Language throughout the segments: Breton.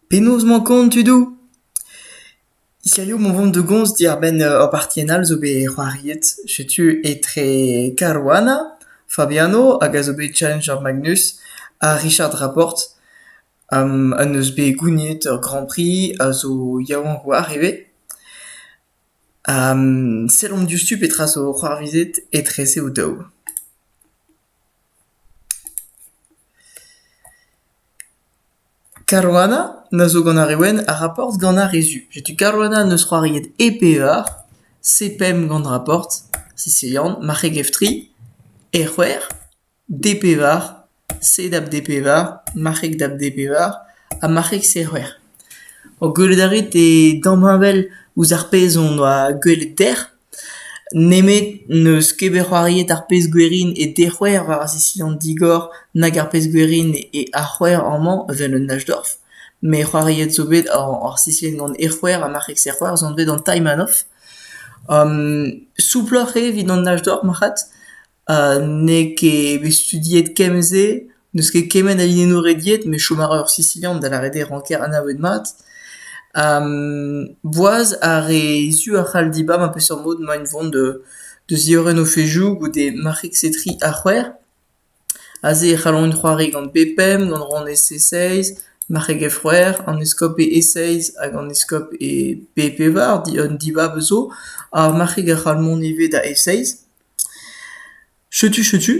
Penaos 'mañ kont tudoù? Hiziv emañ o vont da gomz diwar-benn ur bartienn all zo bet c'hoariet. Setu etre Caruana Fabiano hag a zo bet Challenger Magnus ha Richard Raport. En deus bet gouniet ur Grand Prix a zo yaouank oar ivez. Sellomp diouzhtu petra zo c'hoarvezet etreze o-daou. Caruana a zo gant ar re wenn a raportr gant ar re zu. Setu Caruana n'eus c'hoariet e pevar, se pemp gant raportr, sicilian, marc'heg-eftri, e c'hwec'h, d' e pevar, sed ap d' e pevar, marc'heg d' ap d' e pevar, ha marc'heg-se c'hwec'h. Ho gwelet a rit e damheñvel ouzh ar pezh hon doa gwelet dec'h. Nemet n'eus ket bet c'hoariet ar pezh-gwerin e dec'houer war ar sesión digor nag ar pezh-gwerin e ar c'houer amañ evel un Nachdorf. Met c'hoariet zo bet ar sesión gant e c'houer ha marc'heg-serc'houer zo bet gant Taimanoff. souploc'h eo evit an Nachdorf marc'had. ha n'eo ket bet studiet kemm-se, n'eus ket kement a linennoù rediet met chom a ra ur Sisilian da lâret eo ranker anavet mat. boaz ar re zu a c'hall dibab ar peseurt mod emaint o vont da ziorren o fezhioù goude marc'heg-setriñ ha c'hwec'h. Aze e c'hallont c'hoari gant p-pemp, gant ronn e-c-seiz, marc'heg e-c'hwec'h, an eskob e e-seiz hag an eskob e p-pevar, an dibab zo. Ar marc'heg a c'hall mont ivez da e-seiz. Setu setu.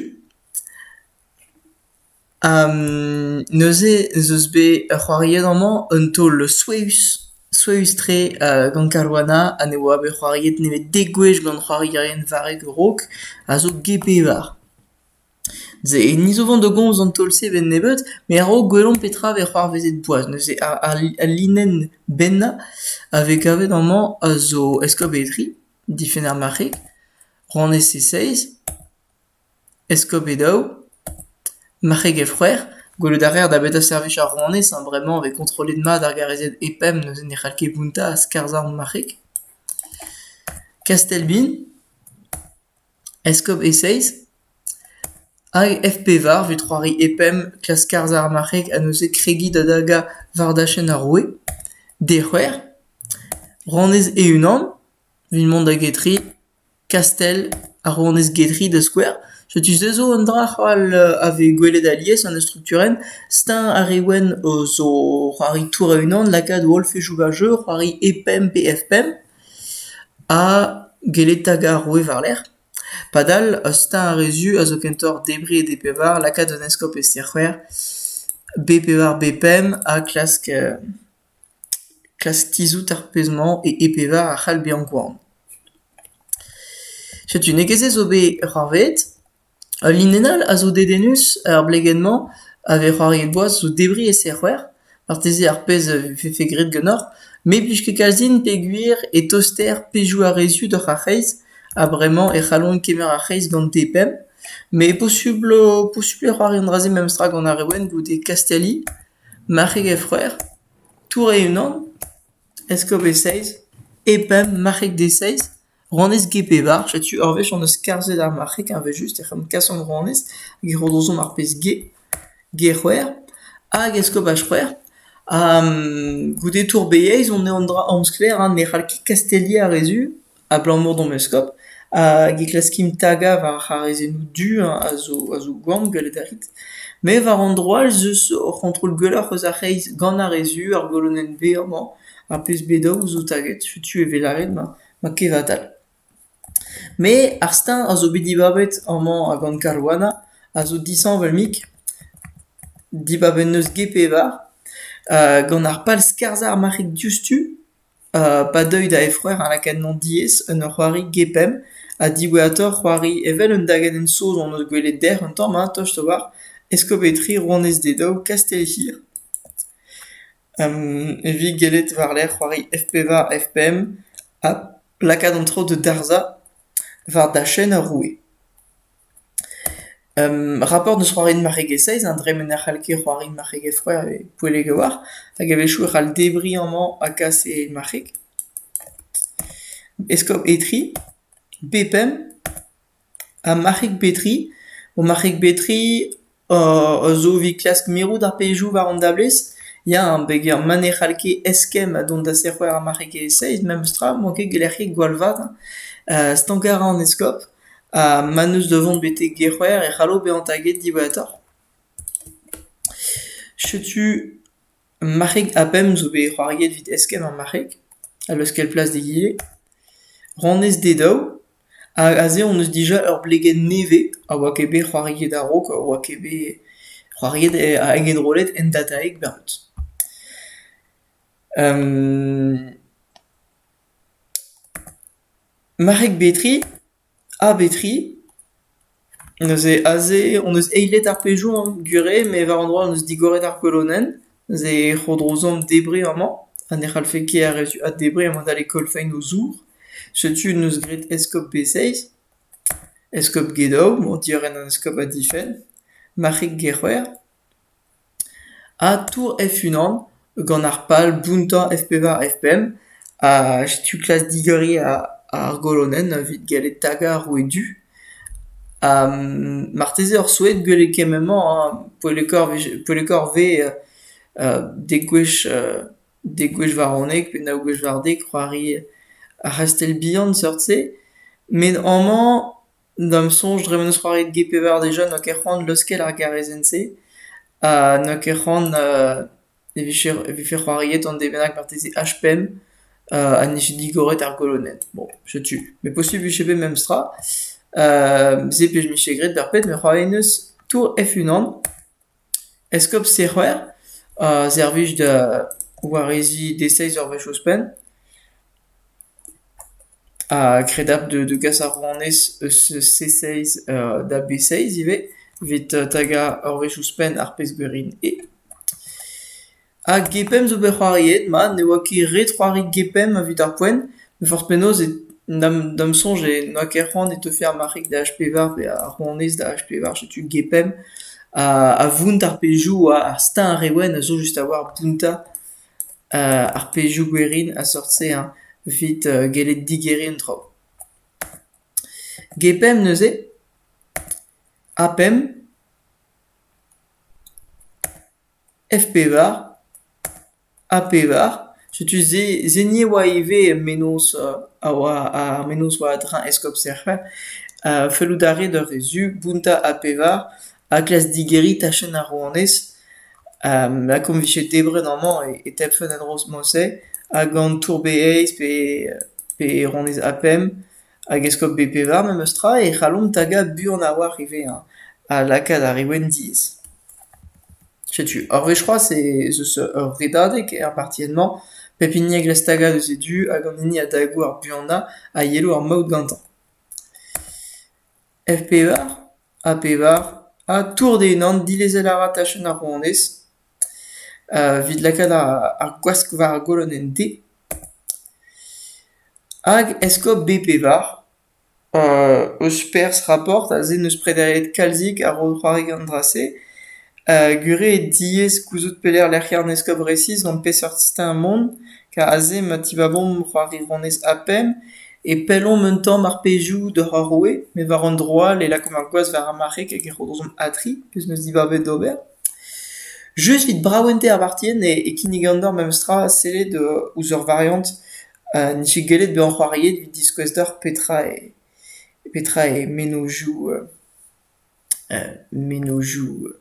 neuze ez eus bet c'hoariet amañ un taol souezhus, souezhus-tre gant Karuana ha ne oa bet c'hoariet nemet dek gwech gant c'hoarierien varrek a-raok a zo get-pevar. Se ni zo 'vañ da gomz an taol-se a-benn nebeut met a-raok gwelomp petra vez c'hoarvezet boaz. Neuze ar linenn bennañ a vez kavet amañ a zo Eskop Etri. Difenn ar marc'heg, rann-ese seizh, eskoped-daou, marc'heg-efc'hwer, gwelout a reer da betra servij ar rouanez ha bremañ e vez kontrollet mat ar garreziad E-pemp neuze ne c'hall ket bountañ ha skarzhañ ar marc'heg. Kastell-bin Eskob e-seizh hag FP-Var vez c'hoari e-pemp klask harzañ ar marc'heg ha neuze kregiñ da dagañ war dachenn ar roue d'e c'hwec'h, rouanez e-unan evit mont da Getri, Kastell ha rouanez Getri da skouer. Setu se zo un dra c'holl a vez gwelet alies en ur strukturenn. Steuñv ar re wenn o zo c'hoari tour a-unan, lakaat o holl fezhioù war jeu, c'hoari e-pemp pe F-pemp. Ha gellet 'ta ga'r roue war-lerc'h. Padal ur steuñv ar re zu a zo kentoc'h debriñ e D-pevar, lakaat un eskob e ster-c'hwec'h, B-pevar, B-pemp ha klask klask tizhout ar pezh-mañ e E-pevar a c'hall bezañ gwan. Setu n'eo ket se zo bet c'hoarvezet. Ul linenn all a zo dedennus er blegenn-mañ a vez c'hoariet boaz zo debriñ e serc'hwer, marteze ar pezh a vefe graet ganeoc'h, me 'plij ket kalzin peogwir e toster pezhioù a-rezioù doc'h ar c'hreiz ha bremañ e c'hallont kemer ar c'hreiz gante pemp, met posubl posubl e c'hoari an dra-se memestra gant ar re wenn goude Kastiali, marc'heg he freur, tour e-unan, eskob e seizh, e pemp marc'heg d'e seizh. Rouanez Ge-Pevar, setu ur wech hon eus skarzhet ar marc'heg evel-just ec'h omp kasomp rouanez hag e c'hodozomp ar pezh Ge, Ge-C'hwec'h hag Eskopaj-C'hwec'h. Ha goude tour-beieiz on eo an dra amsklaer ha ne c'hall ket kasteliañ ar re zu abalamour d'hom eskob. Hag e klaskimp tagañ war ar c'harrezennoù du hein a zo a zo gwan gwellet a rit. Me war an dro all 'z eus hor c'hontrol gwelloc'h eus ar c'hreiz gant ar re zu, ar golonenn-veur 'mañ. Ar pezh bet dav zo taget, setu e vez lâret ma kevatal. Me ar steuñv a zo bet dibabet amañ ha gant Caruana a zo disheñvel-mik. Dibab en deus get pevar gant ar pal skarzhañ ar marc'heg diouzhtu pa deuy da Efreure ha lakaat hemañ diaes en ur c'hoari get pemp ha diwezhatoc'h c'hoari evel un dagenn saoz hon eus gwelet dec'h un tamm hein tost a-walc'h Escopétrie rouanez d'e daou Kastellhir. Evit gellet war-lerc'h c'hoari F-pevar, F-pemp ha lakaat an traoù da darzhañ war dachenn ar roue. Raport n'eus c'hoariet marregezh-saezh an dremen ne c'hall ket c'hoari marc'heg e-froid e Poellek a-walc'h hag a-wechoù e c'hall debriñ amañ ha kas e marc'heg. Eskob Etri, B-pemp. Ha marc'heg Betri, ho marc'heg Betri a zo evit klask mirout ar pezhioù war an dablez. Ya, peger ma ne c'hall ket eskemm ha dont da serc'her ar marc'hegezh-se memestra m'oa ket gelc'hiet gwall vat stank a ra an eskob ha ma n'eus da vont betek Gerc'hwer e c'hallo bezañ taget diwezhatoc'h. Setu Marc'hig ha Pemp zo bet c'hoariet evit eskemm ar marc'heg, a leuskel plas d'egile. Ranez d'he daou. Ha aze hon eus dija ur blegenn nevez a oa ket bet c'hoariet a-raok, a oa ket bet c'hoariet hag enrollet en dataeg barrut. Marc'heg Betri, A betri? Neuze aze hon eus eilet ar pejour gure met war an dra hon eus digoret ar kolonenn. Neuze e c'hodrozomp debriñ amañ ha ne c'hallfe ket ar re zu addebriñ emañ da lekol fein o zour. Setu neus graet eskob Beseiz, eskob Gedow, emañ diorren an eskob ha difenn, marc'hig Gec'hwer. Atour F-unan gant ar pal bountañ F-pevar F-pemp ha setu klas digeriñ ar golonenn evit gellet tagañ ar roue du. Ha marteze oc'h souezhet gwell eo kement-mañ hein poellekoc'h vez dek gwech dek gwech waronek pe nav gwech war-dek c'hoari ar c'hastell bihan seurt-se. Met amañ D'am soñj dre m'en deus c'hoariet get pevar de jeunes n'oa ket c'hoant leuskel ar garezenn-se ha n'oa ket c'hoant e vije e vefe c'hoariet an de bennak marteze H-pemp ha nije digoret ar goloned. Bon, setu. Met posubl e vije bet memestra. se 'pije mije graet d'ar pet met c'hoariet 'neus Tour F-unan. Eskob Sec'hwer a servij da wareziñ deseizh ur wech ouzhpenn ha kredabl da gas ar rouanez eus C-seiz da B-seiz ivez evit tagañ ur wech ouzhpenn ar pezh gwerin eo. Ha GPEM zo bet c'hoariet mat ne oa ket ret c'hoari GPEM evit ar poent, met forzh penaos da'm soñj n'oa ket c'hoant e teufe ar marc'heg da H-pevar pe ar rouanez da H-pevar setu GPEM a vount ar pezhioù oa ar steuñv ar re wenn a zo just a-walc'h bountañ ar pezhioù gwerin a-seurt-se hein evit gellet digeriñ an traoù. GPEM neuze, ha pemp. F-pevar ha pevar. Setu se se ni a oa ivez mennozh a oa ar mennozh war a-dreñv eskob Serc'hwel. Fellout a rae d'ur vezh zu bountañ ha pevar ha klask digeriñ tachenn ar rouanez. Lakaomp 'vije debret amañ e e tebfent en-dro-se. Hag an tour-bereizh pe pe rouanez ha pemp. Hag eskob Bpevar memes tra e c'hallomp tagañ buan a-walc'h ivez hein, ha lakaat ar re wenn diaes. Setu, ur wech c'hoazh ez eus ur redadeg er partienn-mañ, pep hini a gresk tagañ eus e du hag an hini a dago ar buanañ a yelo ar maout gantañ. F-Pevar ha Pevar ha tour d'e unan, dilezel a ra tachenn ar rouanez evit lakaat ar gwask war ar golonenn D. Hag eskob B-Pevar eus perzh raport aze n'eus prederiet kalzik ar c'hoarigan dra-se gure eo diaes gouzout pelec'h lec'hiañ an eskob resis gant peseurt siteñ mont ker aze ma tivavomp c'hoari ronez A-pemp e pellomp un tamm ar pezhioù doc'h ar roue met war an dro all e lakaomp ar gwaz war ar marc'heg hag e rodozomp A-tri pezh 'neus dibabet d'ober. Just evit braventez ar bartienn e kinnigan deoc'h memestra sellet ouzh ur variant n'eo ket gellet bezañ c'hoariet evit diskouez deoc'h petra eo petra eo mennozhioù mennozhioù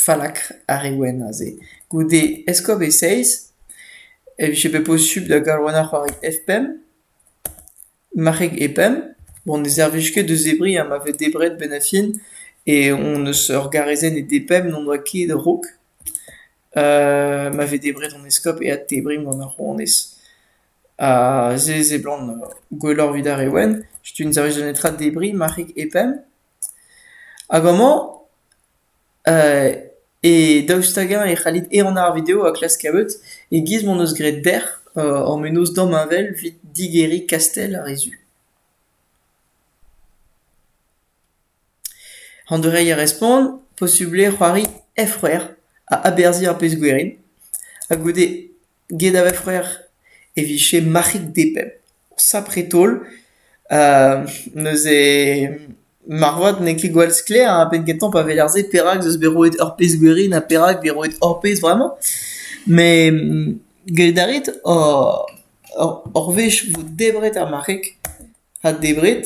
fallakr ar re wenn aze. Goude Eskob e seizh e vije bet posupl da gallouennañ c'hoari F-pemp, marc'heg E-pemp. Bon ne servij ket da zebriñ ha ma vez debret 'benn ar fin e hon eus ur garezenn e D-pemp n'on doa ket raok. ma vez debret an eskob eat tebriñ gant ar rouanez. Ha se e seblant gwelloc'h evit ar re wenn. Setu un servij da netra debriñ ma c'hig hep eñ. Hag amañ e daoust hag-eñ e c'hallit ehanañ ar video ha klask kaout e-giz m'hon eus graet dec'h hor menoz damheñvel evit digeriñ kastell ar re zu. An doureiñ a respont, posubl eo c'hoari F-c'hwec'h a aberzhiñ ar pezh-gwerin, ha goude get ar F-c'hwec'h e vije marc'hig depemp. Sapre-taol neuze marvat n'eo ket gwall sklaer a ra bet gantañ pa weler se perak 'z eus bet roet ur pezh-gwerin ha perak 'vez roet ur pezh vremañ. Met gellet a rit ur wech vo debret ar marc'heg, ha debret.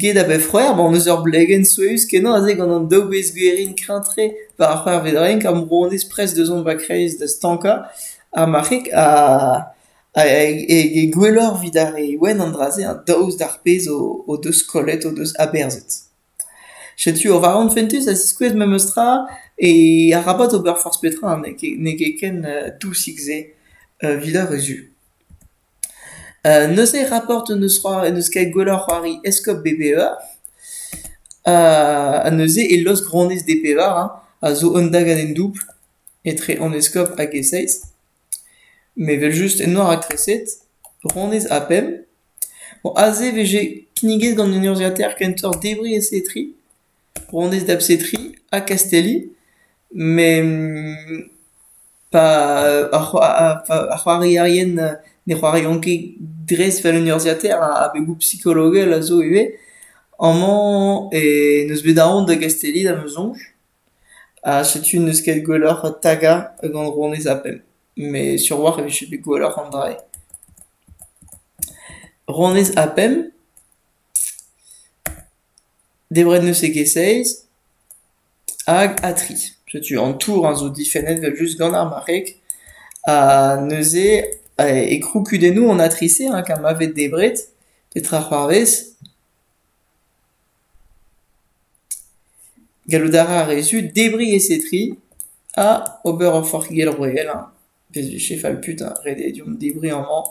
Get a bep c'hwec'h emaon eus ur blegenn souezhus-kenañ aze gant an daou bezgwerin kreñv-tre war ar c'hwec'hvet-renk ha moronez prest da zont va kreiz da stankañ ar marc'heg ha ha e gwelloc'h evit ar re wenn an dra-se daoust d'ar pezh o deus kollet, o deus aberzhet. Setu ur varan fentus a ziskouez memes tra e arabat ober forzh petra n'eo ket ken dousik-se evit ar re zu. Neuze raport n'eus c'hoari n'eus ket gwelloc'h c'hoari eskob B-Pevar ha neuze e lost-gronez D-Pevar hein a zo un dagadenn doubl etre an eskob hag e seizh met evel-just eno ar raktreset ronez ha pemp. Bon aze e vije kinniget gant un urzhiataer kentoc'h debriñ e setri, ronez da bsetri ha kastelli met Pa ar c'hoarierien ne c'hoariont ket dres 'vel un urzhiataer abegoù psikologel a zo ivez. Amañ eh n'eus bet aon da gastelliñ da ma soñj. Ha setu n'eus ket gwelloc'h tagañ gant ronez ha pemp. Met sur-walc'h e vije bet gwelloc'h an dra-se. Ronez ha pemp. Debret n'eus ket ket-seiz hag ha tri. Setu an tour a zo difennet evel-just gant ar marc'heg ha neuze e kroukudennoù an atrice hein kar ma vez debret petra c'hoarvez. Gallout a ra ar re zu debriñ e setri ha ober ur forc'higell royal hein. Bezvije Falput ha ret eo deomp debriñ amañ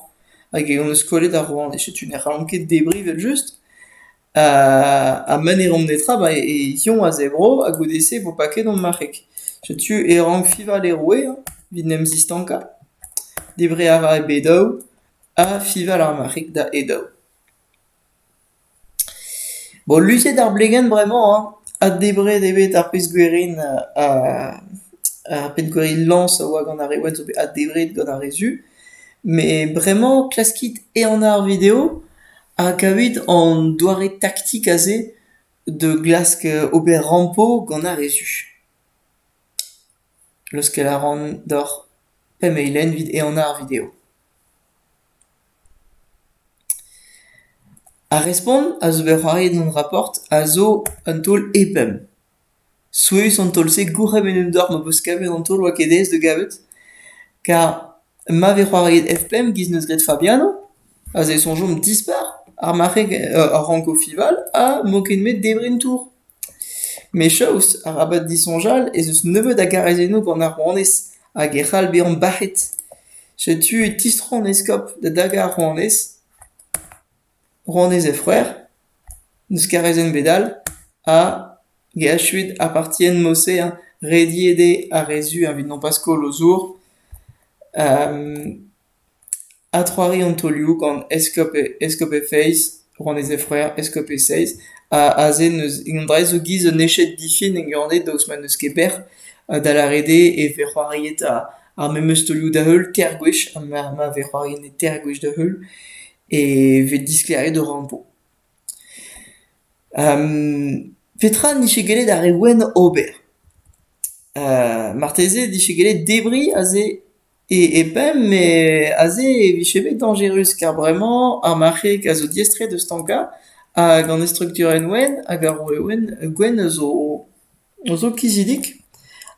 hag e hon eus kollet ar rouanez. Setu ne c'hallomp ket debriñ evel-just. Ha ma n'hellomp netra ba e Yoñ a zebro ha goude-se e vo paket hon marc'heg. Setu e rank fiñval e roue evit en em zistankañ. Debriñ a ra e bed-holl ha fiñval ar marc'heg da e daou. Bo luziet ar blegenn bremañ hein, ha debret eo bet ar pezh-gwerin ar pezh-gwerin lañs a oa gant ar re ouenn zo bet addebret gant ar re zu, met bremañ klaskit ehanañ ar video ha kavit an doare taktik aze da glask ober rampo gant ar re zu. Leuskel a ran deoc'h pemp eilenn evit ehanañ ar video. Ar respont a zo bet c'hoariet gant Raport a zo un taol e-pemp. Souezhus an taol-se, gourc'hemenn en deoc'h ma peus kavet an taol oa ket aes da gavet. Kar ma vez c'hoariet F5 giz n'eus graet Fabiano, aze e soñjomp dispar ar marc'heg, ar ranko fival ha 'mañ ket met debriñ tour. Mechaus, arabat disoñjal, ez eus nebeut a garrezennoù gant ar rouanez hag e c'hall bezañ bac'het. Setu e tistro an eskob da dagañ ar rouanez. Rouanez he c'hwec'h, n'eus garrezenn ebet all, hag he achuet apartien Mosein, rediet eo ar re zu evit nopas koll o zour. Adc'hoari an taolioù gant eskob Feiz, rouanezed Freur eskob Seiz, aze n'eus indraez zo giz un eched difin en Gurned daoust ma n'eus ket bec'h, da lâret eo e vez c'hoariet ar memes taolioù da-heul teir gwech, ma vez c'hoariet teir gwech da-heul e vez disklêriet o rampo. Petra n'ije gellet ar re wenn ober? marteze e dije gellet debriñ aze E e pemp eo aze e vije bet dañjerus kar bremañ ar marc'heg a zo diaestret da stankañ hag an estrukturenn wenn hag ar roue wenn gwenn a zo a zo kizidik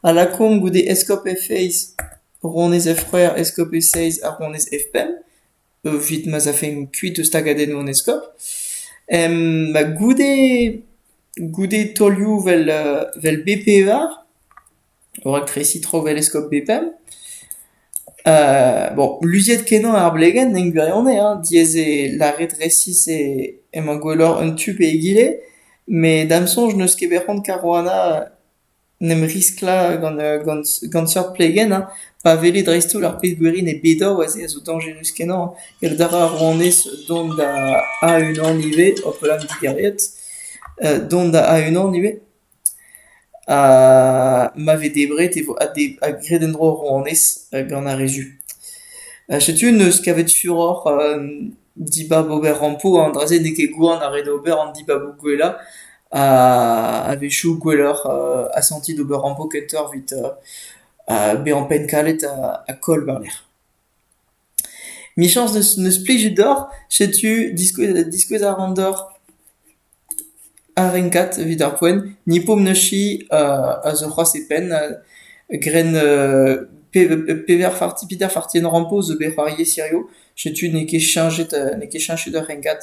a lakaomp goude eskob Efeiz, ronez Ef c'hwec'h, eskob Eseiz ha ronez Ef pemp evit ma'z afemp kuit eus tagadennoù an eskob. ma goude goude taolioù 'vel vel bez pevar Raktres Itro-Veleskop Bepal. Bon, luziet-kenañ ar blegenn en gwirionez hein, diaes eo lâret resis e- emañ gwelloc'h un tu pe egile, met da'm soñj n'eus ket bet c'hoant Caruana n'em risklañ gant gant gant seurt plegenn hein, pa wele dreist-holl ar pezh gwerin e Bedor aze a zo dañjerus-kenañ ket a ra ar rouanez dont da A-unan ivez, hopala, me 'digeriet, dont da A-unan ivez. Ma vez debret e vo graet en-dro ar rouanez gant ar re zu. Setu neus kavet furoc'h dibab ober rampo, an dra-se n'eo ket gwan ar re da ober an dibaboù gwellañ. A-wechoù gwelloc'h asantiñ d'ober rampo kentoc'h evit bezañ pennkalet ha koll war-lerc'h. Michañs neus plijet deoc'h, setu diskouez a ran deoc'h. Ar renkad evit ar poent Nippomnuschi a zo c'hoazh e penn gren Peter Fartienrampo zo bet c'hoariez hiziv. Setu n'eo ket cheñchet n'eo ket cheñchet ur renkad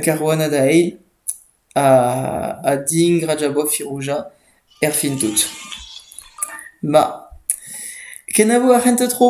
Caruana da eil ha Diing Rajabov Firouzja erfin tout. Ma, kenavo ar c'hentañ tro!